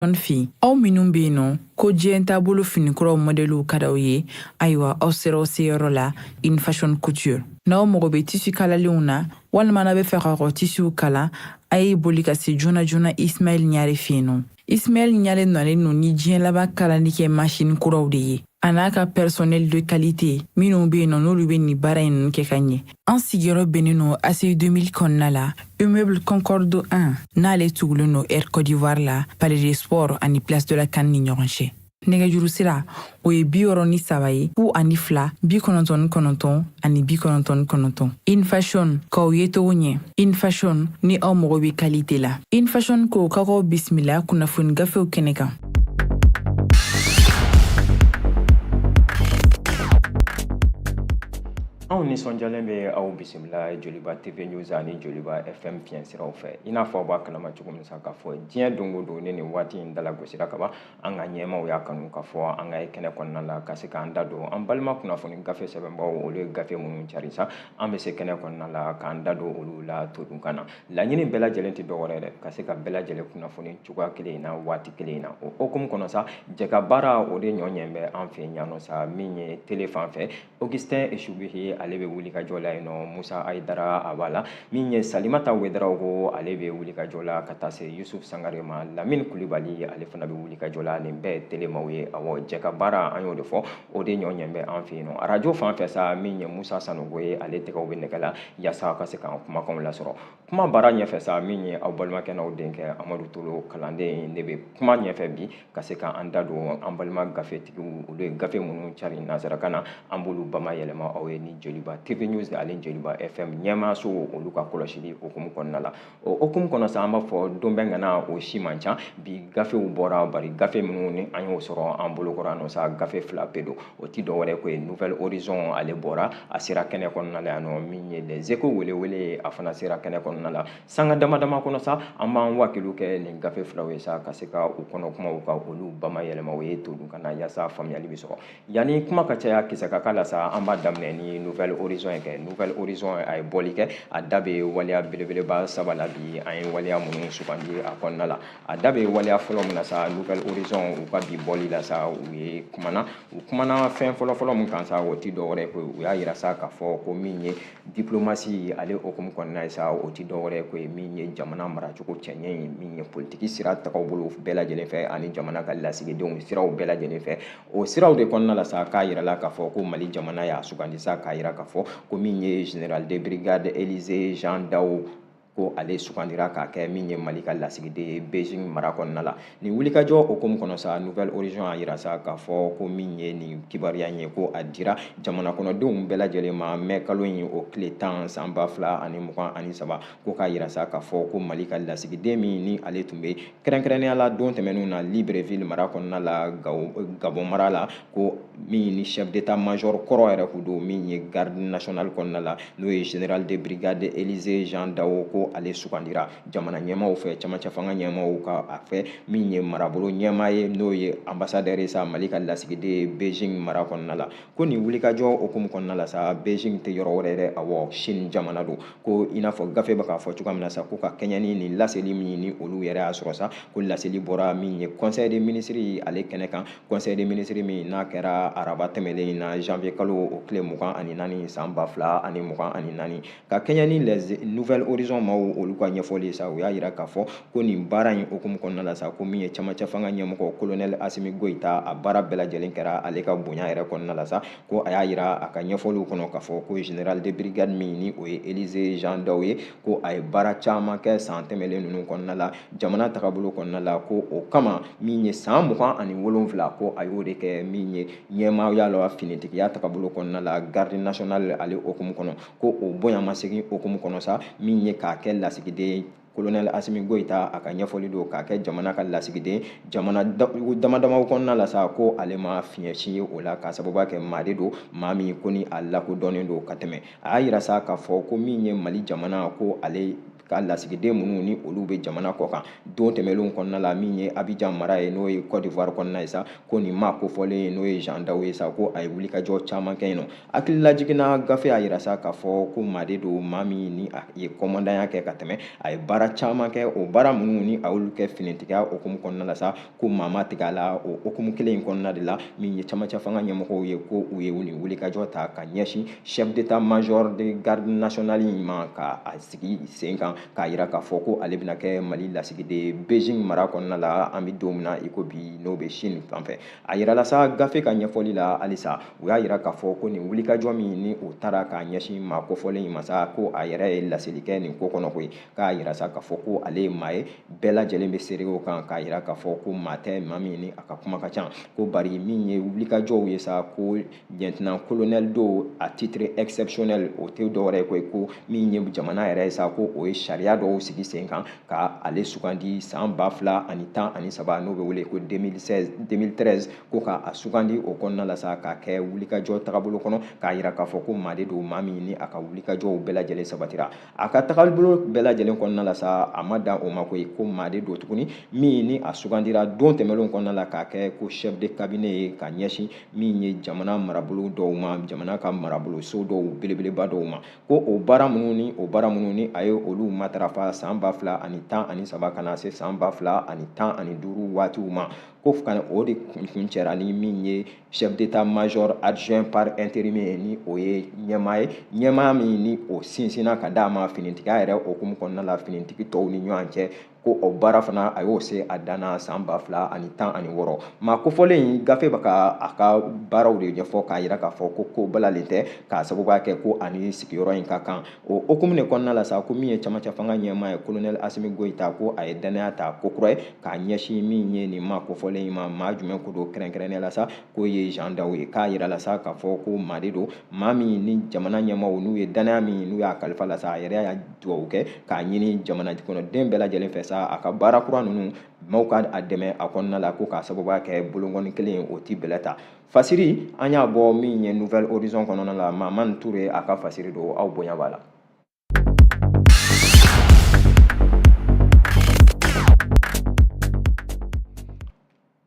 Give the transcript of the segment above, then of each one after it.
Jeune fille aw minnu bɛ yen nɔ ko diɲɛ taabolo finikuraw mɔdɛliw ka d'aw ye ayiwa aw sera aw seyɔrɔ la in fashion couture n'aw mago bɛ tissu kalalenw na walima n'aw b'a fɛ ka aw tissuw kala a ye boli ka se joona joona ismaɛlɛ ɲare fɛ yen nɔ ismaɛlɛ ɲare nalen nɔ ni diɲɛ laban kalali kɛ masin kuraw de ye a n'a ka personnel de qualité minnu be yen nɔ n'olu be nin baara ninnu kɛ ka ɲɛ an sigiyɔrɔ bɛnnen nɔ aci 2000 kɔnɔna la immeuble concorde 1 n'ale tugulen nɔ air cote d'ivoire la palais des sports ani place de la can ni ɲɔgɔn cɛ nɛgɛjuru sira o ye bi wɔɔrɔ ni saba ye fu ani fila bi kɔnɔntɔn ni kɔnɔntɔn ani bi kɔnɔntɔn ni kɔnɔntɔn in fashion k'aw yecogo ɲɛ in fashion ni aw mago be qualité la in fashion ko ka k'aw bisimila kunnafoni gafew kɛnɛ kan anw nisɔnjalen bɛ aw bisimila joliba tv news ani joliba fm fiɲɛ siraw fɛ i n'a fɔ aw b'a kalama cogo min sa k'a fɔ diɲɛ don o don ni nin waati in dalagosira kaban an ka ɲɛmaw y'a kanu k'a fɔ an ka ye kɛnɛ kɔnɔna la ka se k'an da don an balima kunnafoni gafe sɛbɛnbaaw olu ye gafe minnu cari sa an bɛ se kɛnɛ kɔnɔna la k'an da don olu la todun kan na laɲini bɛɛ lajɛlen tɛ dɔwɛrɛ dɛ ka se ka bɛɛ lajɛlen kunnafoni cogoya kelen in na waati kelen in na o hokumu kɔnɔ sa jɛkabaara o de ɲɔ ɲɛ bɛ an fɛ yan nɔ sa min ye tele fan fɛ Augustin Eshubihi ale bɛ wulikajɔ la yen nɔ Musa Ayidara a b'a la min ye Salimata Wedarawogo ale bɛ wulikajɔ la ka taa se Yusuf Sangare ma Lamine Kulibali ale fana bɛ wulikajɔ la nin bɛɛ ye telemaw ye awɔ jɛkabaara an y'o de fɔ o de ɲɔ ɲɛ bɛ an fɛ yen nɔ arajo fan fɛ sa min ye Musa Sanogo ye ale tɛgɛw bɛ nɛgɛ la yaasa ka se k'an kumakanw lasɔrɔ kuma baara ɲɛfɛ sa min ye aw balimakɛ n'aw denkɛ Amadu Tolo kalanden ne bɛ kuma ɲɛfɛ bi ka se ka an da don an balima gafetigiw olu ye gafe minnu cari nansarakan na an b'olu bamayɛlɛma aw ye ni joliba tv news ani joliba fm ɲɛmaaso olu ka kɔlɔsili okumu kɔnɔna la o okumu kɔnɔ sa an b'a fɔ don bɛɛ ŋana o si man ca bi gafew bɔra bari gafe minnu ni an y'o sɔrɔ an bolokɔrɔ nɔ sa gafe fila pe don o ti dɔwɛrɛ ko ye nouvel horizon ale bɔra a sera kɛnɛ kɔnɔna la yan nɔ min ye les échos welewele a fana sera kɛnɛ kɔnɔna la sanga dama dama kɔnɔ sa an b'an wakiliw kɛ nin gafe filaw ye sa ka se ka u kɔnɔ kumaw ka olu bamayɛlɛma aw ye todun kan na yaasa faamuyali bɛ sɔrɔ yanni kuma ka caya kisɛ ka k'a la sa an b'a daminɛ ni nouvel horizon ye kɛ nouvel horizon a ye bɔli kɛ a da bɛ waleya belebeleba saba la bi an ye waleya minnu sugandi a kɔnɔna la a da bɛ waleya fɔlɔ min na sa nouvel horizon u ka bi bɔli la sa u ye kumana u kumana fɛn fɔlɔfɔlɔ min kan sa o ti dɔwɛrɛ ye koyi u y'a yira sa k'a fɔ ko min ye diplomasi ale okumu kɔnɔna ye sa o ti dɔwɛrɛ ko ye min ye jamana maracogo cɛɲɛ ye min ye politiki sira tagabolo bɛɛ lajɛlen fɛ ani jamana ka lasigidenw siraw bɛɛ lajɛlen fɛ o siraw de kɔnɔna la sa k'a yirala k'a fɔ ko mali jamana y'a sugandi sa k'a yira k'a fɔ ko min ye général de brigade élisée jean dao ko ale sugandira k'a kɛ min ye mali ka lasigiden ye beijing mara kɔnɔna la nin wulikajɔ hukumu kɔnɔ sa nouvel horizon a yira sa k'a fɔ ko min ye nin kibaruya ye ko a dira jamana kɔnɔdenw bɛɛ lajɛlen ma mɛ kalo in o tile tan san ba fila ani mugan ani saba ko k'a yira sa k'a fɔ ko mali ka lasigiden min ni ale tun bɛ kɛrɛnkɛrɛnnenya la don tɛmɛnenw na libreville mara kɔnɔna la gabon mara la ko min ni chef d'état major kɔrɔ yɛrɛ kun don min ye garde nationale kɔnɔna la n'o ye général de brigade élisée jean dao ko ale sugandira jamana ɲɛmaaw fɛ camancɛ fanga ɲɛmaaw ka a fɛ min ye marabolo ɲɛmaa ye n'o ye ambassadeur ye sa mali ka lasigiden ye beijing mara kɔnɔna la ko nin wulikajɔ hukumu kɔnɔna la sa beijing tɛ yɔrɔ wɛrɛ ye dɛ awɔ chine jamana don ko i n'a fɔ gafe bɛ k'a fɔ cogoya min na sa ko ka kɛɲɛ ni nin laseli min ni olu yɛrɛ y'a sɔrɔ sa ko laseli bɔra min ye conseil des ministres ale kɛnɛ kan conseil des ministres min n'a kɛra araba tɛmɛlen in na janvier kalo o tile mugan ani naani san ba fila ani mugan ani naani ka kɛɲɛ ni les nouvel horizon maaw olu ka ɲɛfɔli ye sa u y'a yira k'a fɔ ko nin baara in hukumu kɔnɔna la sa ko min ye camancɛ fanga ɲɛmɔgɔ kolonɛli asimi goyita a baara bɛɛ lajɛlen kɛra ale ka bonya yɛrɛ kɔnɔna la sa ko a y'a yira a ka ɲɛfɔliw kɔnɔ k'a fɔ ko général de brigade min ni o ye élisée jean dao ye ko a ye baara caman kɛ san tɛmɛlen ninnu kɔnɔna la jamana tagabolo kɔnɔna la ko o kama min ye san mugan ani wolonfila ko a y'o de kɛ min ye ɲɛmaaya la finitigiya tagabolo kɔnɔna la garde nationale ale hukumu kɔnɔ ko o bonyamasegin hukumu kɔnɔ sa min ye k'a kɛ lasigiden kolonɛli asimi goyita a ka ɲɛfɔli don k'a kɛ jamana ka lasigiden jamana dama damaw kɔnɔna la sa ko ale ma fiɲɛ si ye o la k'a sababuya kɛ maa de don maa min ko ni a lakodɔnnen don ka tɛmɛ a y'a yira sa k'a fɔ ko min ye mali jamana ko ale ka lasigiden minnu ni olu bɛ jamana kɔkan don tɛmɛnlenw kɔnɔna la min ye abijan mara ye n'o ye côte d'ivoire kɔnɔna ye sa ko nin maa kofɔlen ye n'o ye jean dao ye sa ko a ye wulikajɔ caman kɛ yen nɔ hakililajigin na gafe y'a yira sa k'a fɔ ko maa de don maa min ni a ye kɔmandanya kɛ ka tɛmɛ a ye baara caman kɛ o baara minnu ni a y'olu kɛ finitigiya hukumu kɔnɔna la sa ko maa ma tigɛ a la o hukumu kelen in kɔnɔna de la min ye camancɛ fanga ɲɛmɔgɔw ye ko u ye u nin wulikajɔ ta ka ɲɛsin chef d'état major de garde nationale in ma ka a sigi sen kan k'a yira k'a fɔ ko ale bɛna kɛ mali lasigiden beijing mara kɔnɔna la an bɛ don min na i ko bi n'o bɛ chine fan fɛ a yirala sa gafe ka ɲɛfɔli la halisa u y'a yira k'a fɔ ko nin wulikajɔ min ni o taara k'a ɲɛsin maa kofɔlen in ma sa ko a yɛrɛ ye laseli kɛ nin ko kɔnɔ koyi k'a yira sa k'a fɔ ko ale ye maa ye bɛɛ lajɛlen bɛ seere o kan k'a yira k'a fɔ ko maa tɛ maa min ni a ka kuma ka ca ko bari min ye wulikajɔw ye sa ko lieutenant colonel don à titre exceptionnel o tɛ dɔwɛrɛ ye koyi ko min ye jamana yɛrɛ ye sa ko o ye sariya dɔw sigi sen kan ka ale sugandi san ba fila ani tan ani saba n'o bɛ wele ko 2013 ko ka a sugandi o kɔnɔna la sa k'a kɛ wulikajɔ tagabolo kɔnɔ k'a yira k'a fɔ ko maa de don maa min ni a ka wulikajɔw bɛɛ lajɛlen sabatira a ka tagabolo bɛɛ lajɛlen kɔnɔna la sa a ma dan o ma koyi ko maa de don tuguni min ni a sugandira don tɛmɛnlenw kɔnɔna la k'a kɛ ko chef de cabinet ye ka ɲɛsin min ye jamana marabolo dɔw ma jamana ka maraboloso dɔw belebeleba dɔw ma ko o baara minnu ni o baara minnu ni a ye olu matarafa san ba fila ani tan ani saba ka na se san ba fila ani tan ani duuru waatiw ma ko o de kuncɛra ni min ye chef d'état major adjoint par intérim ye ni o ye ɲɛmaa ye ɲɛmaa min ni o sinsinna ka d'a ma finitigiya yɛrɛ hukumu kɔnɔna la finitigi tɔw ni ɲɔgɔn cɛ ko o baara fana a y'o se a dan na san ba fila ani tan ani wɔɔrɔ maa kofɔlen in gafe bɛ ka a ka baaraw de ɲɛfɔ k'a yira k'a fɔ ko ko balalen tɛ k'a sababuya kɛ ko a ni sigiyɔrɔ in ka kan o hukumu de kɔnɔna la sa ko min ye camancɛ fanga ɲɛmaa ye kolonɛli asimi goyita ko a ye dannaya ta ko kura ye k'a ɲɛsin min ye nin maa kofɔlen in ma maa jumɛn ko don kɛrɛnkɛrɛnnen la sa k'o ye jean daw ye k'a yira la sa k'a fɔ ko maa de don maa min ni jamana ɲɛmaaw n'u ye dannaya min n'u y'a kalifa la sa a yɛrɛ y'a dugawu kɛ k'a ɲini jamana kɔnɔden bɛɛ lajɛlen fɛ sa a ka baara kura ninnu maaw ka a dɛmɛ a kɔnɔna la ko k'a sababuya kɛ bolonkɔni kelen o ti bɛlɛ ta fasiri an y'a bɔ min ye nouvel horizon kɔnɔna la mamani ture a ka fasiri don aw bonya b'a la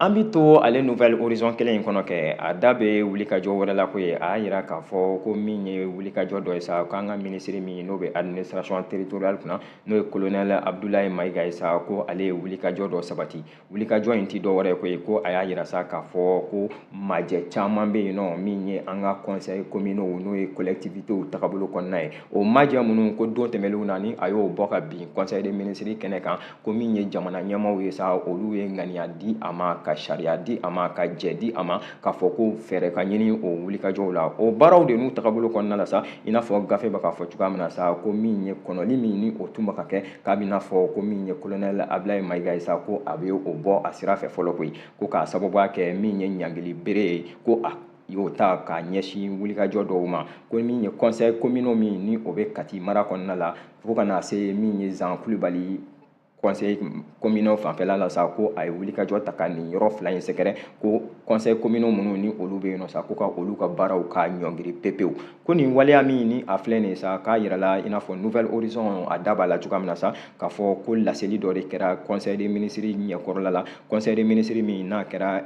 an bi to ale nouvel horizon kelen in kɔnɔ kɛ a da bɛ wulikajɔ wɛrɛ la koyi a y'a yira k'a fɔ ko min ye wulikajɔ dɔ ye sa k'an ka minisiri min n'o bɛ administration territoriale kunna n'o ye colonel abdulayi mayiga ye sa ko ale ye wulikajɔ dɔ sabati wulikajɔ in tɛ dɔ wɛrɛ koyi ko a y'a yira sa k'a fɔ ko majɛ caman bɛ yen nɔ min ye an ka conseil communaux n'o ye collectivités tagabolo kɔnɔna ye o majɛ minnu ko don tɛmɛnlenw na ni a y'o bɔ ka bin conseil des ministres kɛnɛ kan ko min ye jamana ɲɛmaaw ye sa olu ye ŋaniya di a ma ka sariya di a ma ka jɛ di a ma k'a fɔ ko fɛɛrɛ ka ɲini o wulikajɔw la o baaraw de n'u tagabolo kɔnɔna la sa i n'a fɔ gafe bɛ k'a fɔ cogoya min na sa ko min ye kɔnɔli min ni o tun bɛ ka kɛ k'a bɛn'a fɔ ko min ye kolonɛli abilayi mayiga ye sa ko a bɛ o bɔ a sira fɛ fɔlɔ koyi ko k'a sababuya kɛ min ye ɲangili bere ye ko a y'o ta k'a ɲɛsin wulikajɔ dɔw ma ko min ye conseil communaux min ni o bɛ kati mara kɔnɔna la fo ka na se min ye zan kulubali conseil communaux fanfɛla la sa ko a ye wulikajɔ ta ka nin yɔrɔ fila in sɛgɛrɛ ko conseil communaux minnu ni olu bɛ yen nɔ sa ko ka olu ka baaraw ka ɲɔngiri pepewu ko nin waleya min ni a filɛ nin ye sa k'a yirala i n'a fɔ nouvel horizon a da b'a la cogoya min na sa k'a fɔ ko laseli dɔ de kɛra conseil des ministres ɲɛkɔrɔla la conseil des ministres min n'a kɛra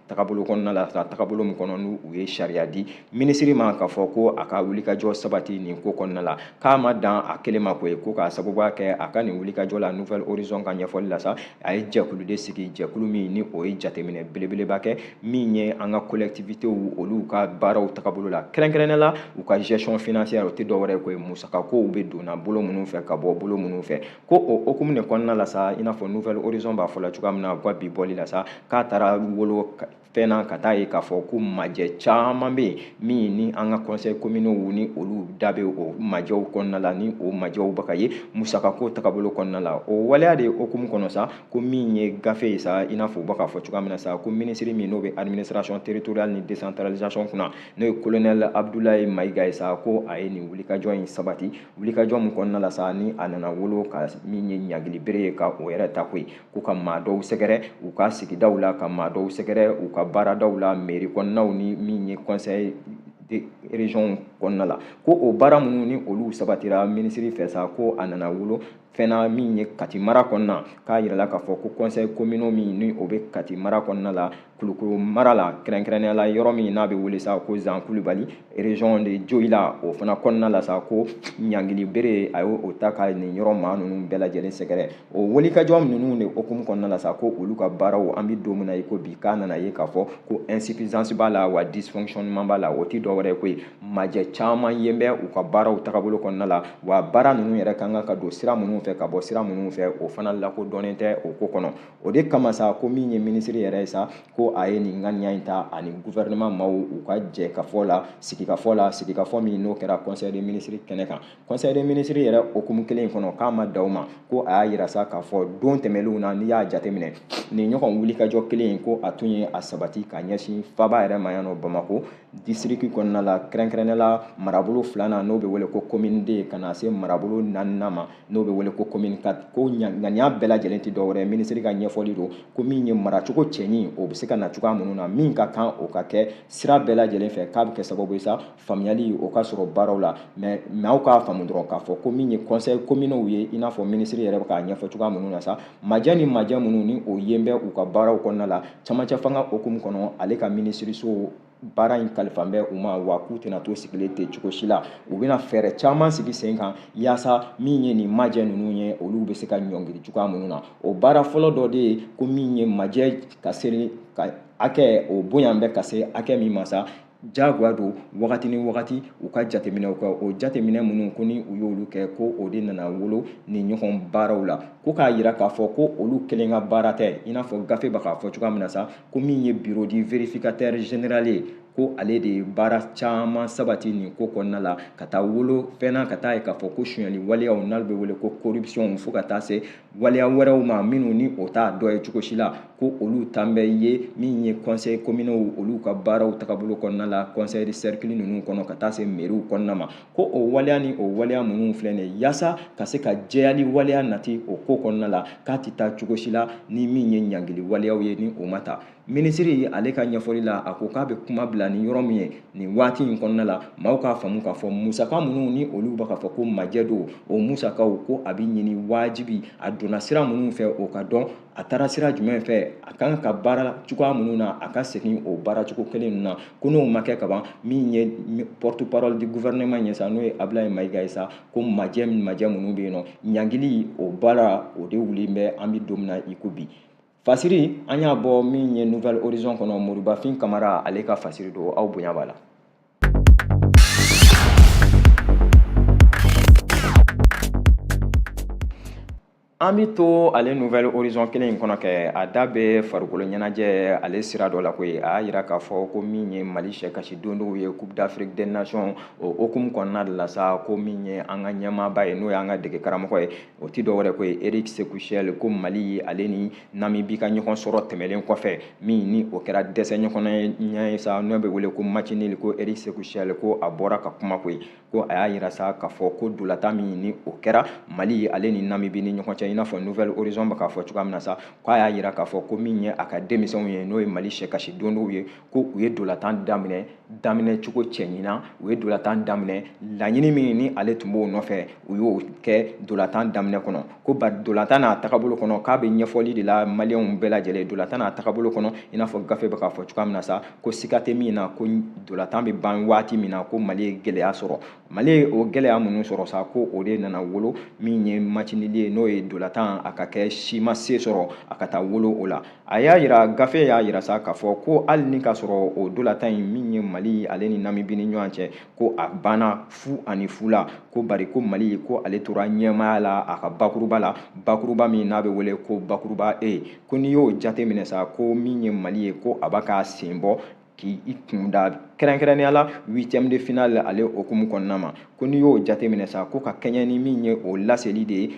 tagabolo kɔnɔna la sa tagabolo min kɔnɔ ni u ye sariya di minisiri ma k'a fɔ ko a ka wulikajɔ sabati nin ko kɔnɔna la k'a ma dan a kelen ma koyi ko k'a sababuya kɛ a ka nin wulikajɔ la nouvel horizon ka ɲɛfɔli la sa a ye jɛkulu de sigi jɛkulu min ni o ye jateminɛ belebeleba kɛ min ye an ka collectivités olu ka baaraw tagabolo la kɛrɛnkɛrɛnnenya la u ka gestion financière o tɛ dɔwɛrɛ ye koyi musakakow bɛ donna bolo minnu fɛ ka bɔ bolo minnu fɛ ko o hukumu de kɔnɔna la sa i n'a fɔ Nouvel Horizon b'a fɔ la cogoya min na u ka bi bɔli la sa k'a taara wolo fɛn na ka taa ye k'a fɔ ko majɛ caman bɛ yen min ni an ka conseil communaux ni olu da bɛ o majɛw kɔnɔna la ni o majɛw bɛ ka ye musakako tagabolo kɔnɔna la o waleya de hukumu kɔnɔ sa ko min ye gafe ye sa i n'a fɔ u bɛ k'a fɔ cogoya min na sa ko minisiri min n'o bɛ administration territoriale ni décentralisation kunna n'o ye colonel abdoulaye mayiga ye sa ko a ye nin wulikajɔ in sabati wulikajɔ min kɔnɔna la sa ni a nana wolo ka min ye ɲangili bere ye ka o yɛrɛ ta koyi ko ka maa dɔw sɛgɛrɛ u ka sigidaw la ka maa dɔw sɛgɛrɛ u ka baaradaw la mairie kɔnɔnaw ni min ye conseil de région kɔnɔna la ko o baara minnu ni olu sabatira minisiri fɛ sa ko a nana wolo fɛn na min ye kati mara kɔnɔna k'a yirala k'a fɔ ko conseil communaux min ni o bɛ kati mara kɔnɔna la kulukoro mara la kɛrɛnkɛrɛnnenya la yɔrɔ min n'a bɛ wele sa ko zan kulubali région de dioïla o fana kɔnɔna la sa ko ɲangili bere a y'o ta ka nin yɔrɔ maa ninnu bɛɛ lajɛlen sɛgɛrɛ o wulikajɔ ninnu de hukumu kɔnɔna la sa ko olu ka baaraw an bɛ don min na i ko bi k'a nana ye k'a fɔ ko insuffisance b'a la wa dysfonctionnement b'a la o tɛ dɔ wɛrɛ ye koyi majɛ caman ye bɛ u ka baaraw tagabolo kɔnɔna la wa baara ninnu yɛrɛ ka kan ka don sira minnu fɛ ka bɔ sira minnu fɛ o fana lakodɔnnen tɛ o ko kɔnɔ o de kama sa ko min ye minisiri yɛrɛ ye sa ko a ye nin ŋaniya in ta ani guvɛrɛnɛman maaw u ka jɛkafɔ la sigikafɔ la sigikafɔ min n'o kɛra conseil des ministres kɛnɛ kan conseil des ministres yɛrɛ hukumu kelen in kɔnɔ k'a ma dan o ma ko a y'a yira sa k'a fɔ don tɛmɛlenw na n'i y'a jateminɛ nin ɲɔgɔn wulikajɔ kelen in ko a tun ye a sabati ka ɲɛsin faba yɛrɛ ma yan nɔ bamako disiriki kɔnɔna la kɛrɛnkɛrɛnnenya la marabolo filanan n'o bɛ wele ko commune deux ka na se marabolo naaninan ma n'o bɛ wele ko commune quatre ko ŋaniya bɛɛ lajɛlen tɛ dɔwɛrɛ ye minisiri ka ɲɛfɔli don ko min ye maracogo cɛɲi o bɛ se ka na cogoya minnu na min ka kan o ka kɛ sira bɛɛ lajɛlen fɛ k'a bɛ kɛ sababu ye sa faamuyali o ka sɔrɔ baaraw la mais maaw k'a faamu dɔrɔn k'a fɔ ko min ye conseil communaux ye i n'a fɔ minisiri yɛrɛ bɛ k'a ɲɛfɔ cogoya minnu na sa Majɛ ni majɛ minnu ni o yen bɛ u ka baaraw kɔnɔna la camancɛ fanga hukumu kɔnɔ ale ka minisiriso baara in kalifan bɛ u ma wa k'u tɛna to sigilen ten cogo si la u bɛna fɛɛrɛ caman sigi sen kan yaasa min ye nin majɛ ninnu ye olu bɛ se ka ɲɔngiri cogoya minnu na o baara fɔlɔ dɔ de ye ko min ye majɛ ka seli ka hakɛ o bonya bɛ ka se hakɛ min ma sa jagoya don wagati ni wagati u ka jateminɛw kɛ o jateminɛ minnu ko ni u y'olu kɛ ko o de nana wolo nin ɲɔgɔn baaraw la ko k'a yira k'a fɔ ko olu kelen ka baara tɛ i n'a fɔ gafe bɛ k'a fɔ cogoya min na sa ko min ye bureau du vérificateur général ye ko ale de ye baara caman sabati nin ko kɔnɔna la ka taa wolo fɛn na ka taa ye k'a fɔ ko sonyali waleyaw n'ale bɛ wele ko corruption fo ka taa se waleya wɛrɛw ma minnu ni o t'a dɔ ye cogo si la ko olu tan bɛ ye min ye kɔnsɛyi kominow olu ka baaraw tagabolo kɔnɔna la kɔnsɛyi sɛrikili ninnu kɔnɔ ka taa se meriw kɔnɔna ma ko o waleya ni o waleya minnu filɛ nin ye yaasa ka se ka jɛyali waleya nati o ko kɔnɔna la k'a tɛ taa cogo si la ni min ye ɲangili waleyaw ye ni o ma ta minisiri ale ka ɲɛfɔli la a ko k'a bɛ kuma bila ni yɔrɔ min ye nin waati in kɔnɔna la maaw k'a faamu k'a fɔ musaka minnu ni olu bɛ k'a fɔ ko majɛ don o musakaw ko a bɛ ɲini wajibi a donna sira minnu fɛ o ka dɔn a taara sira jumɛn fɛ a kan ka baara cogoya minnu na a ka segin o baara cogo kelen ninnu na ko n'o ma kɛ kaban min ye porte parole du gouvernement ye sa n'o ye Ablaye Mayiga ye sa ko majɛ majɛ minnu bɛ yen nɔ ɲangili o baara o de wulilen bɛ an bɛ don min na i ko bi fasiri an y'a bɔ min ye nouvelle horizon kɔnɔ moribafin kamara ale ka fasiri don aw bonya b'a la an bi to ale nouvelle horizon kelen in kɔnɔ kɛ a da bɛ farikolo ɲɛnajɛ ale sira dɔ la koyi a y'a yira k'a fɔ ko min ye mali sɛkasi dondonw ye coupe d'afrique des nations o hukumu kɔnɔna de la sa ko min ye an ka ɲɛmaaba ye n'o y'an ka dege karamɔgɔ ye o tɛ dɔwɛrɛ ko ye eric sékou chelle ko mali ye ale ni namibi ka ɲɔgɔn sɔrɔ tɛmɛlen kɔfɛ min ni o kɛra dɛsɛ ɲɔgɔnna ye sa n'o bɛ wele ko match nul ko eric sékou chelle ko a bɔra ka kuma koyi ko a y'a yira sa k'a fɔ ko dolatan min ni o kɛra mali ye ale ni namibi ni ɲɔgɔn cɛ i n'a fɔ nouvelle horizon bɛ k'a fɔ cogoya min na sa k'a y'a yira k'a fɔ ko min ye a ka denmisɛnw ye n'o ye mali sɛkasi dondonw ye ko u ye dolatan daminɛ daminɛ cogo cɛɲi na u ye dolatan daminɛ laɲini min ni ale tun b'o nɔfɛ u y'o kɛ dolatan daminɛ kɔnɔ ko bari dolatan n'a tagabolo kɔnɔ k'a bɛ ɲɛfɔli de la maliyɛnw bɛɛ lajɛlen dolatan n'a tagabolo kɔnɔ i n'a fɔ gafe bɛ k'a fɔ cogoya min na sa ko siga tɛ min na ko dolatan bɛ ban waati min na ko mali ye gɛlɛya sɔrɔ mali ye o gɛlɛya minnu sɔrɔ sa ko o de nana wolo min ye match nul ye n'o ye dolatan a ka kɛ si ma se sɔrɔ a ka taa wolo o la a y'a yira gafe y'a yira sa k'a fɔ ko hali ni k'a sɔrɔ o dolatan in min ye mali ale ni namibi ni ɲɔgɔn cɛ ko a banna fu ani fu la ko bari ko mali ko ale tora ɲɛmaaya la a ka bakuruba la bakuruba min n'a bɛ wele ko bakuruba e ko n'i y'o jate minɛ sa ko min ye mali ye ko a b'a k'a sen bɔ k'i kun da kɛrɛnkɛrɛnnenya la huitième de finale ale hukumu kɔnɔna ma ko n'i y'o jateminɛ sa ko ka kɛɲɛ ni min ye o laseli de ye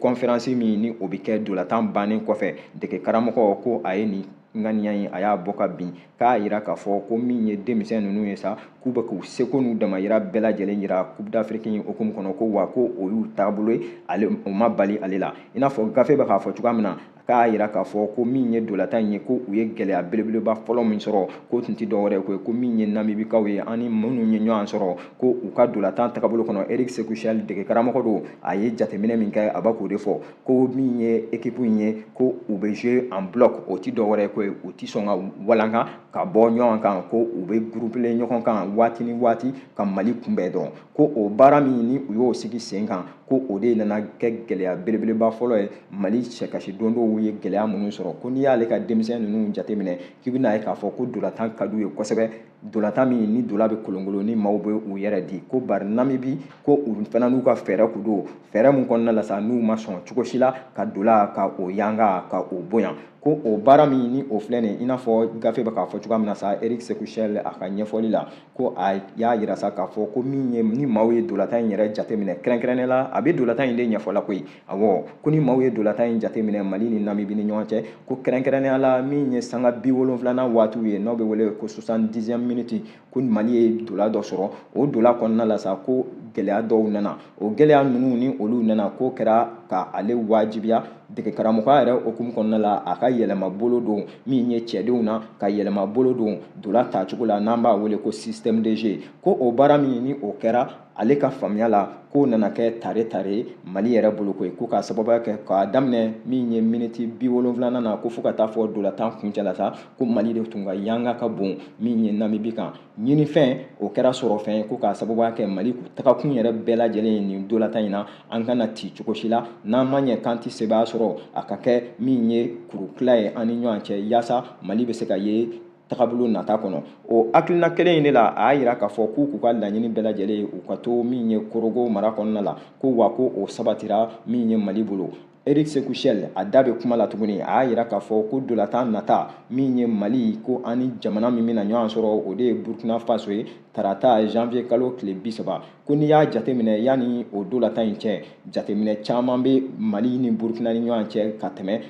conférence min ni o bɛ kɛ dolatan bannen kɔfɛ dege karamɔgɔ ko a ye nin ŋaniya in a y'a bɔ ka bin k'a yira k'a fɔ ko min ye denmisɛn ninnu ye sa k'u bɛ k'u seko n'u damayira bɛɛ lajɛlen yira coupe d'afrique in hukumu kɔnɔ ko wa ko o y'u taabolo ye ale o ma bali ale la i n'a fɔ gafe bɛ k'a fɔ cogoya min na k'a jira k'a fɔ ko min ye dolatan in ye ko u ye gɛlɛya belebeleba fɔlɔ min sɔrɔ ko tun tɛ dɔwɛrɛ ko ye ko min ye namibikaw ye ani minnu ye ɲɔgɔn sɔrɔ ko u ka dolatan tagabolo kɔnɔ eric sekou chelle dege karamɔgɔ don a ye jateminɛ min kɛ a b'a k'o de fɔ ko min ye ekipu in ye ko u bɛ jouer en bloc o tɛ dɔwɛrɛ ko ye u tɛ sɔn ka walanka ka bɔ ɲɔgɔn kan ko u bɛ gurupelen ɲɔgɔn kan waati ni waati ka mali kunbɛn dɔrɔn ko o baara min ni u y'o sigi sen kan ko o de nana kɛ gɛlɛya belebeleba fɔlɔ ye mali cɛkasi dondonw ye gɛlɛya minnu sɔrɔ ko n'i y'ale ka denmisɛn ninnu jateminɛ k'i bɛna ye k'a fɔ ko dolatan ka d'u ye kosɛbɛ dolatan min ni dola bɛ kolonkolon ni maaw bɛ u yɛrɛ di ko bari namibi ko u fana n'u ka fɛɛrɛ kun don fɛɛrɛ min kɔnɔna la sa n'u ma sɔn cogo si la ka dola ka o yanga ka o bonya ko o baara min ni o filɛ nin i n'a fɔ gafe bɛ k'a fɔ cogoya min na sa eric sekou chelle a ka ɲɛfɔli la ko a y'a jira sa k'a fɔ ko min ye ni maaw ye dolatan in yɛrɛ jateminɛ kɛrɛnkɛrɛnnenya la a bɛ dolatan in de ɲɛfɔla koyi awɔ ko ni maaw ye dolatan in jateminɛ mali ni namibi ni ɲɔgɔn cɛ ko kɛrɛnkɛrɛnnenya la min ye sanga bi wolonfilanan waatiw ye n'o bɛ wele ko soixante dixième minute ko mali ye dola dɔ sɔrɔ o dola kɔnɔna la sa ko gɛlɛya dɔw nana o gɛlɛya ninnu ni olu nana k'o kɛra ka ale wajibiya dege karamɔgɔya yɛrɛ hukumu kɔnɔna la a ka yɛlɛma bolo don min ye cɛdenw na ka yɛlɛma bolo don dola tacogo la n'an b'a wele ko système de jeu ko o baara min ni o kɛra ale ka faamuya la k'o nana kɛ tare tare mali yɛrɛ bolo koyi ko k'a sababuya kɛ k'a daminɛ min ye miniti bi wolonfilana na ko fo ka taa fɔ dolatan kuncɛ la sa ko mali de tun ka yanga ka bon min ye namibi kan ɲinifɛn o kɛra sɔrɔfɛn ye ko k'a sababuya kɛ mali tagakun yɛrɛ bɛɛ lajɛlen ye nin dolatan in na an kana ti cogo si la n'an ma ɲɛ k'an tɛ sebaya sɔrɔ a ka kɛ min ye kurutila ye an ni ɲɔgɔn cɛ yaasa mali bɛ se ka ye tagabolo nata kɔnɔ o hakilina kelen in de la a y'a jira k'a fɔ k'u k'u ka laɲini bɛɛ lajɛlen ye u ka to min ye korogo mara kɔnɔna la ko wa ko o sabatira min ye mali bolo Eric Sekou Chelle a da bɛ kuma la tuguni a y'a jira k'a fɔ ko dolatan nata min ye Mali ko an ni jamana min bɛna ɲɔgɔn sɔrɔ o de ye Burkina Faso ye tarata janvier kalo tile bi saba ko n'i y'a jateminɛ yanni o dolatan in cɛ jateminɛ caman bɛ Mali ni Burkina ni ɲɔgɔn cɛ ka tɛmɛ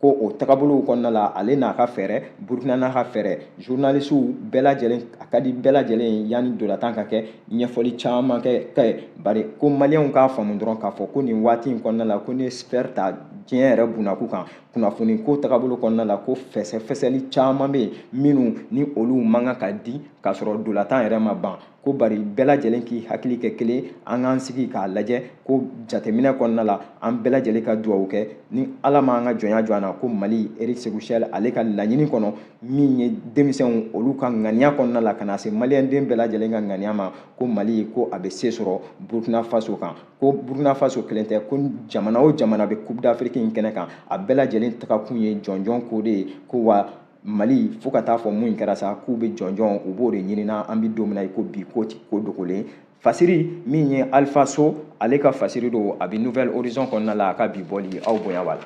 ko o tagabolow kɔnɔna la ale n'a ka fɛɛrɛ Burkina n'a ka fɛɛrɛ journalistes bɛɛ lajɛlen a ka di bɛɛ lajɛlen ye yanni dolatan ka kɛ ɲɛfɔli caman ka kɛ bari ko maliyɛnw k'a faamu dɔrɔn k'a fɔ ko nin waati in kɔnɔna la ko ni sphère ta diɲɛ yɛrɛ bunnaku kan kunnafoni ko tagabolo kɔnɔna la ko fɛsɛfɛsɛli caman bɛ yen minnu ni olu man kan ka di k'a sɔrɔ dolatan yɛrɛ ma ban ko bari bɛɛ lajɛlen k'i hakili kɛ kelen an k'an sigi k'a lajɛ ko jateminɛ kɔnɔna la an bɛɛ lajɛlen ka dugawu kɛ ni ala ma an ka jɔnya jɔ an na ko mali eric sekou chelle ale ka laɲini kɔnɔ min ye denmisɛnw olu ka ŋaniya kɔnɔna la ka na se maliyɛnden bɛɛ lajɛlen ka ŋaniya ma ko mali ko a bɛ se sɔrɔ burkina faso kan ko burkina faso kelen tɛ ko jamana o jamana bɛ coupe d'afrique in kɛnɛ kan a bɛɛ lajɛlen tagakun ye jɔnjɔn ko de ye ko wa mali fo ka taa fɔ mun kɛra sa k'u bɛ jɔnjɔn u b'o de ɲinina an bɛ don min na i ko bi ko ko dogolen fasiri min ye alifa so ale ka fasiri don a bɛ nouvelle horizon kɔnɔna la a ka bi bɔli aw bonya b'a la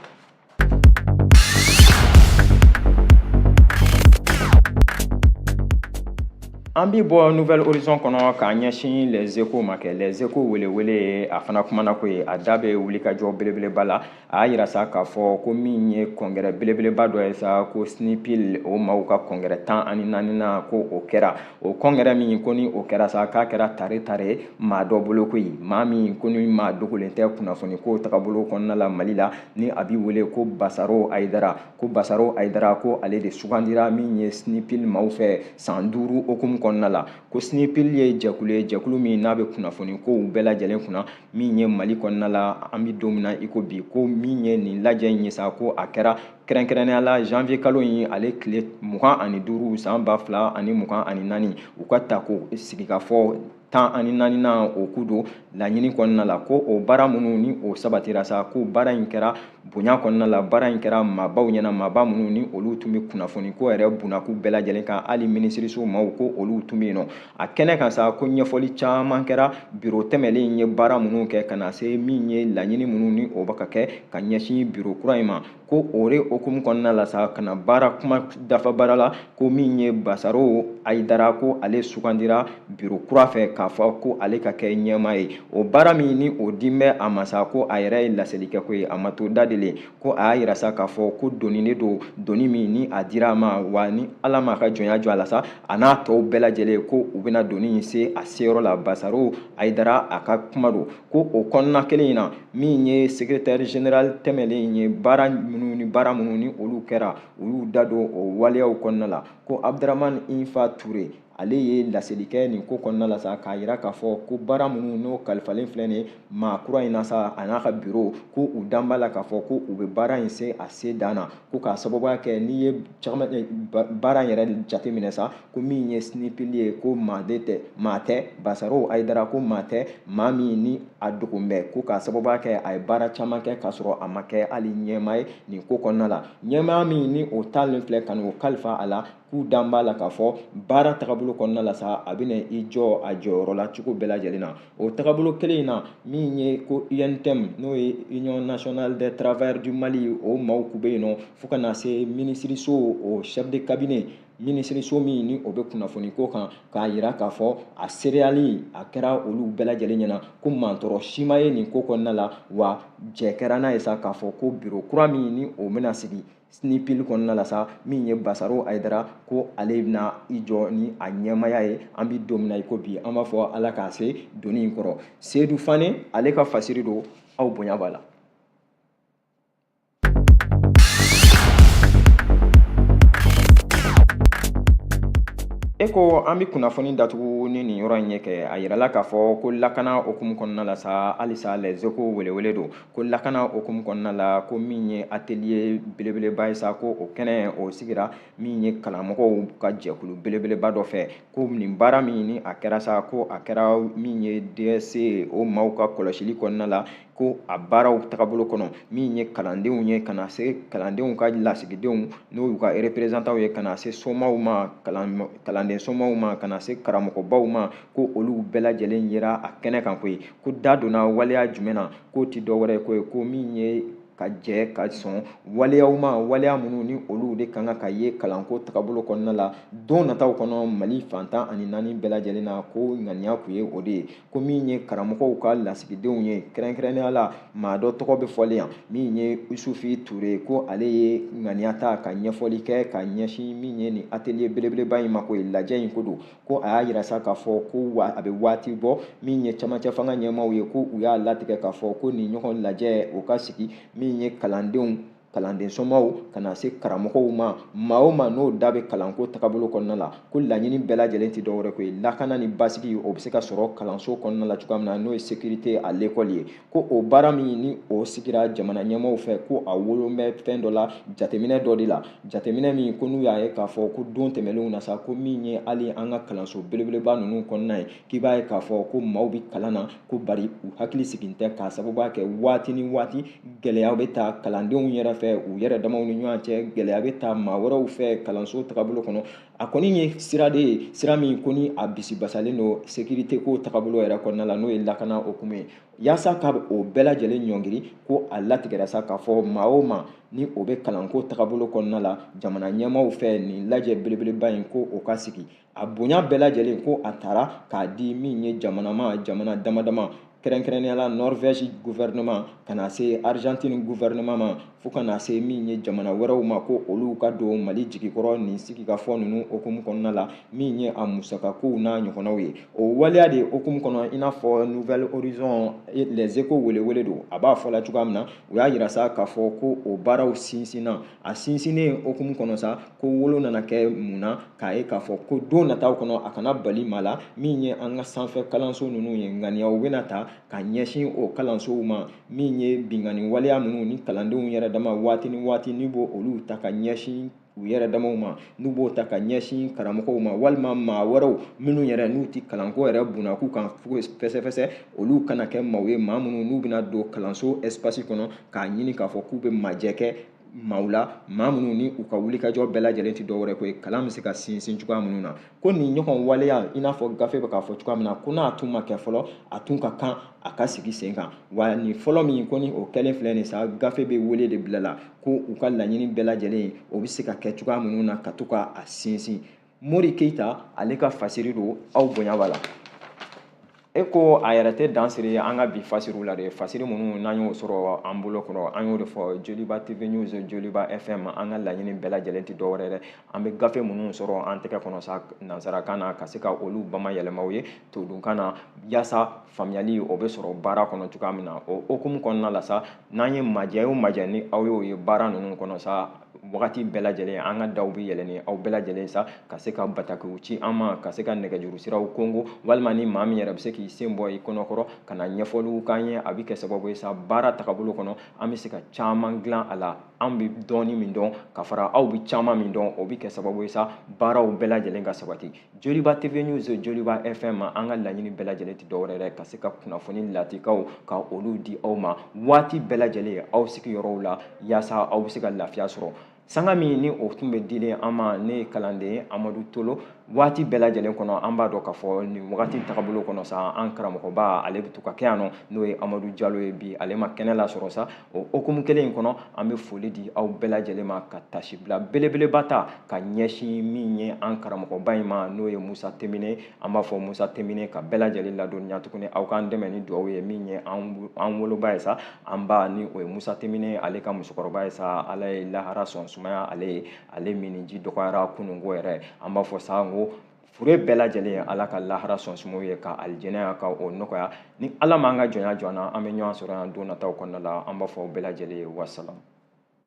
An bɛ bɔ Nouvelle Horizon kɔnɔ k'a ɲɛsin Les Echos ma kɛ Les Echos welewele ye a fana kumana ko ye a da bɛ wulikajɔ belebeleba la a y'a yira sa k'a fɔ ko min ye kɔngɛrɛ belebeleba dɔ ye sa ko SNIPIL o maaw ka kɔngɛrɛ tan ani naaninan ko o kɛra o kɔngɛrɛ min ko ni o kɛra sa k'a kɛra tare tare maa dɔ bolo koyi maa min ko ni maa dogolen tɛ kunnafoni ko tagabolo kɔnɔna la Mali la ni a b'i wele ko basaro ayidara ko basaro ayidara ko ale de sugandira min ye snipil maaw fɛ san duuru hukumu kɔnɔna la ko snipil ye jɛkulu ye jɛkulu min n'a bɛ kunnafoni kow bɛɛ lajɛlen kunna min ye mali kɔnɔna la an bɛ don min na i ko bi ko min ye nin lajɛ in ye sa ko a kɛra kɛrɛnkɛrɛnnenya la janvier kalo in ale tile mugan ani duuru san ba fila ani mugan ani naani u ka ta ko sigikafɔ tan ani naaninan o kun don laɲini kɔnɔna la ko o baara minnu ni o sabatira sa ko baara in kɛra bonya kɔnɔna la baara in kɛra maabaw ɲɛna maaba minnu ni olu tun bɛ kunnafoni ko yɛrɛ bunakun bɛɛ lajɛlen kan hali minisiriso maaw ko olu tun bɛ yen nɔ a kɛnɛ kan sa ko ɲɛfɔli caman kɛra biro tɛmɛlen in ye baara minnu kɛ ka na se min ye laɲini minnu ni o bɛ ka kɛ ka ɲɛsin biro kura in ma ko o de hukumu kɔnɔna la sa ka na baara kuma dafa baara la ko min ye basaro ayidara ko ale sugandira biro kura fɛ k'a fɔ ko ale ka kɛ ɲɛmaa ye o baara min ni o dilen bɛ a ma sa ko a yɛrɛ ye laseli kɛ ko ye a ma to da de le ko a y'a yira sa k'a fɔ ko doni de don doni min ni a dira a ma wa ni ala m'a ka jɔnya jɔ a la sa a n'a tɔw bɛɛ lajɛlen ko u bɛna doni in se a seyɔrɔ la basaro ayidara a ka kuma don ko o kɔnɔna kelen in na min ye secrétaire général tɛmɛlen in ye baara minnu ni baara minnu ni olu kɛra u y'u da don o waleyaw kɔnɔna la ko abdramani infa ture ale ye laseli kɛ nin ko kɔnɔna la sa k'a yira k'a fɔ ko baara minnu n'o kalifalen filɛ nin ye maa kura in na sa a n'a ka biro ko u dan b'a la k'a fɔ ko u bɛ baara in se a se dan na ko k'a sababuya kɛ n'i ye baara in yɛrɛ jateminɛ sa ko min ye snipil ye ko maa tɛ basaro ayidara ko maa tɛ maa min ni a dogon bɛ ko k'a sababuya kɛ a ye baara caman kɛ k'a sɔrɔ a ma kɛ hali ɲɛmaa ye nin ko kɔnɔna la ɲɛmaya min ni o talen filɛ ka n'o kalifa a la k'u dan b'a la k'a fɔ baara tagabolo kɔnɔna la sa a bɛna i jɔ a jɔyɔrɔ la cogo bɛɛ lajɛlen na o tagabolo kelen in na min ye ko UNTM n'o ye Union nationale des travailleurs du Mali o maaw kun bɛ yen nɔ fo ka na se minisiriso o chef de cabinet minisiriso min ni o bɛ kunnafoni ko kan k'a yira k'a fɔ a seereyali a kɛra olu bɛɛ lajɛlen ɲɛna ko mantɔrɔ si ma ye nin ko kɔnɔna la wa jɛ kɛra n'a ye sa k'a fɔ ko biro kura min ni o bɛna sigi snipil kɔnɔna la sa min ye basaro ayidara ko ale bɛna i jɔ ni a ɲɛmaya ye an bɛ don min na i ko bi an b'a fɔ ala k'a se doni in kɔrɔ seyidu fane ale ka fasiri don aw bonya b'a la E ko an bɛ kunnafoni datugu ni nin yɔrɔ in ye kɛ a yirala k'a fɔ ko lakana hukumu kɔnɔna la sa halisa Les Echos welewele don ko lakana hukumu kɔnɔna la ko min ye ateliye belebeleba ye sa ko o kɛnɛ o sigira min ye kalanmɔgɔw ka jɛkulu belebeleba dɔ fɛ ko nin baara min ni a kɛra sa ko a kɛra min ye dɛsɛ o maaw ka kɔlɔsili kɔnɔna la ko a baaraw tagabolo kɔnɔ min ye kalandenw ye ka na se kalandenw ka lasigidenw n'o y'u ka reperezantanw ye ka na se somaw ma kalanden somaw ma ka na se karamɔgɔbaw ma ko olu bɛɛ lajɛlen yera a kɛnɛ kan koyi ko da donna waleya jumɛn na k'o ti dɔwɛrɛ ye koyi ko min ye ka jɛ ka sɔn waleyaw ma waleya minnu ni olu de kan ka ye kalanko tagabolo kɔnɔna la don nataw kɔnɔ mali fan tan ani naani bɛɛ lajɛlen na ko ŋaniya kun ye o de ye ko min ye karamɔgɔw ka lasigidenw ye kɛrɛnkɛrɛnnenya la maa dɔ tɔgɔ bɛ fɔlen yan min ye isufi ture ko ale ye ŋaniya ta ka ɲɛfɔli kɛ ka ɲɛsin min ye nin atelier belebeleba in ma koyi lajɛ in ko don ko a y'a yira sa k'a fɔ ko a bɛ waati bɔ min ye camancɛ fanga ɲɛmaaw ye ko u y'a latigɛ k'a fɔ ko nin ɲɔgɔn lajɛ o ka sigi min ye kalandenw kalanden somaw ka na se karamɔgɔw ma maa o maa n'o da bɛ kalanko tagabolo kɔnɔna la ko laɲini bɛɛ lajɛlen tɛ dɔwɛrɛ ko ye lakana ni basigi o bɛ se ka sɔrɔ kalanso kɔnɔna la cogoya min na n'o ye sécurité à l'école ye ko o baara min ni o sigira jamana ɲɛmaaw fɛ ko a wolon bɛ fɛn dɔ la jateminɛ dɔ de la jateminɛ min ko n'u y'a ye k'a fɔ ko don tɛmɛnlenw na sa ko min ye hali an ka kalanso belebeleba ninnu kɔnɔna ye k'i b'a ye k'a fɔ ko maaw bɛ kalan na ko bari u hakili sigin tɛ k'a sababuya kɛ waati ni waati gɛlɛya bɛ ta kalandenw yɛrɛ fɛ u yɛrɛ damaw ni ɲɔgɔn cɛ gɛlɛya bɛ ta maa wɛrɛw fɛ kalanso tagabolo kɔnɔ a kɔni ye sira de ye sira min ko ni a bisibasalen don sekirite ko tagabolo yɛrɛ kɔnɔna la n'o ye lakana hukumu ye yaasa ka o bɛɛ lajɛlen ɲɔngiri ko a latigɛra sa k'a fɔ maa o maa ni o bɛ kalanko tagabolo kɔnɔna la jamana ɲɛmaaw fɛ nin lajɛ belebeleba in ko o ka sigi a bonya bɛɛ lajɛlen ko a tara k'a di min ye jamanama jamana dama dama kɛrɛnkɛrɛnnenya la norvɛsi guvɛrɛnɛman ka na se arizantini guvɛrɛnɛman ma fo ka na se min ye jamana wɛrɛw ma ko olu ka don mali jigikɔrɔ nin sigikafɔ ninnu hukumu kɔnɔna la min ye a musakakow n'a ɲɔgɔnnaw ye o waleya de hukumu kɔnɔ i n'a fɔ nouvel horizon les echos welewele don a b'a fɔ la cogoya min na u y'a yira sa k'a fɔ ko o baaraw sinsinna a sinsinni hukumu kɔnɔ sa ko olu nana kɛ mun na k'a ye k'a fɔ ko don nataw kɔnɔ a kana bali maa la min ye an ka sanfɛ kalanso ninnu ye ŋaniyaw bɛna ta ka ɲɛsin o kalansow ma min ye binkanni waleya minnu ni kalandenw yɛrɛ dama waati ni waati n'u b'olu ta ka ɲɛsin u yɛrɛ damaw ma n'u b'o ta ka ɲɛsin karamɔgɔw ma walima maa wɛrɛw minnu yɛrɛ n'u tɛ kalanko yɛrɛ bunak'u kan fɛsɛfɛsɛ olu kana kɛ maaw ye maa minnu n'u bɛna don kalanso ɛsipasi kɔnɔ k'a ɲini k'a fɔ k'u bɛ majɛ kɛ maaw la maa minnu ni u ka wulikajɔ bɛɛ lajɛlen tɛ dɔwɛrɛ ko ye kalan bɛ se ka sinsin cogoya minnu na ko nin ɲɔgɔn waleya i n'a fɔ gafe bɛ k'a fɔ cogoya min na ko n'a tun ma kɛ fɔlɔ a tun ka kan a ka sigi sen kan wa nin fɔlɔ min ko ni o kɛlen filɛ nin sa gafe bɛ wele de bila la ko u ka laɲini bɛɛ lajɛlen o bɛ se ka kɛ cogoya minnu na ka to ka a sinsin mori keyita ale ka fasiri don aw bonya b'a la e ko a yɛrɛ tɛ dan siri an ka bi fasiriw la dɛ fasiri minnu n'an y'o sɔrɔ an bolo kɔnɔ an y'o de fɔ joliba tv news joliba fm an ka laɲini bɛɛ lajɛlen tɛ dɔwɛrɛ dɛ an bɛ gafe minnu sɔrɔ an tɛgɛ kɔnɔ sa nansarakan na ka se ka olu bamayɛlɛma aw ye todunkan na yaasa faamuyali o bɛ sɔrɔ baara kɔnɔ cogoya min na o hukumu kɔnɔna la sa n'an ye majɛ o majɛ ni aw y'o ye baara ninnu kɔnɔ sa wagati bɛɛ lajɛlen an ka daw bɛ yɛlɛnnen aw bɛɛ lajɛlen sa ka se ka batakiw ci an ma ka se ka nɛgɛjuru siraw konkon walima ni maa min yɛrɛ bɛ se k'i sen bɔ i kɔnɔ kɔrɔ ka na ɲɛfɔliw k'an ye a bɛ kɛ sababu ye sa baara tagabolo kɔnɔ an bɛ se ka caman dilan a la an bɛ dɔɔni min dɔn ka fara aw bɛ caman min dɔn o bɛ kɛ sababu ye sa baaraw bɛɛ lajɛlen ka sabati joliba tv news joliba fm an ka laɲini bɛɛ lajɛlen tɛ dɔwɛrɛ dɛ ka se ka kunnafoni latikaw ka olu di aw ma waati bɛɛ lajɛlen aw sigiyɔrɔw la yaasa aw bɛ se ka lafiya sɔrɔ sanga min ni o tun bɛ dilen an ma ne ye kalanden amadu tolo waati bɛɛ lajɛlen kɔnɔ an b'a dɔn k'a fɔ nin wagati tagabolo kɔnɔ sa an karamɔgɔba ale bɛ to ka kɛ yan nɔ n'o ye amadu jalo ye bi ale ma kɛnɛ lasɔrɔ sa o hukumu kelen in kɔnɔ an bɛ foli di aw bɛɛ lajɛlen ma ka tasibila belebeleba ta ka ɲɛsin min ye an karamɔgɔba in ma n'o ye musa temine an b'a fɔ musa temine ka bɛɛ lajɛlen ladɔnniya tuguni aw k'an dɛmɛ ni dugawu ye min ye an woloba ye sa an ba ni o ye musa temine ale ka musokɔrɔba ye sa ala ye lahara sɔn sumaya ale ye ale minji dɔgɔyara kununko yɛrɛ an b'a fɔ sa n ko fure bɛɛ lajɛlen ye ala ka lahara sɔn suma u ye ka alijɛnɛya ka o nɔgɔya ni ala m'an ka jɔnya jɔ an na an bɛ ɲɔgɔn sɔrɔ yan don nataw kɔnɔna la an b'a fɔ aw bɛɛ lajɛlen ye wasalam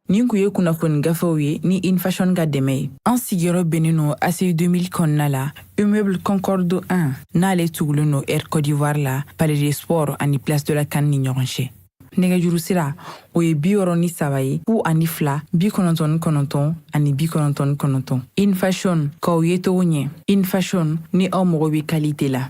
nin kun ye kunnafoni gafew ye ni infashion ka dɛmɛ ye an sigiyɔrɔ bɛnnen no aci 2000 kɔnɔna la immeuble concorde 1 n'ale tugulen no air côte d'ivoire la palais des sports ani place de la can ni ɲɔgɔn cɛ nɛgɛjuru sira o ye bi wɔɔrɔ ni saba ye fu ani fila bi kɔnɔntɔn ni kɔnɔntɔn ani bi kɔnɔntɔn ni kɔnɔntɔn infashion k'aw yecogo ɲɛ infashion ni aw mago bɛ kalite la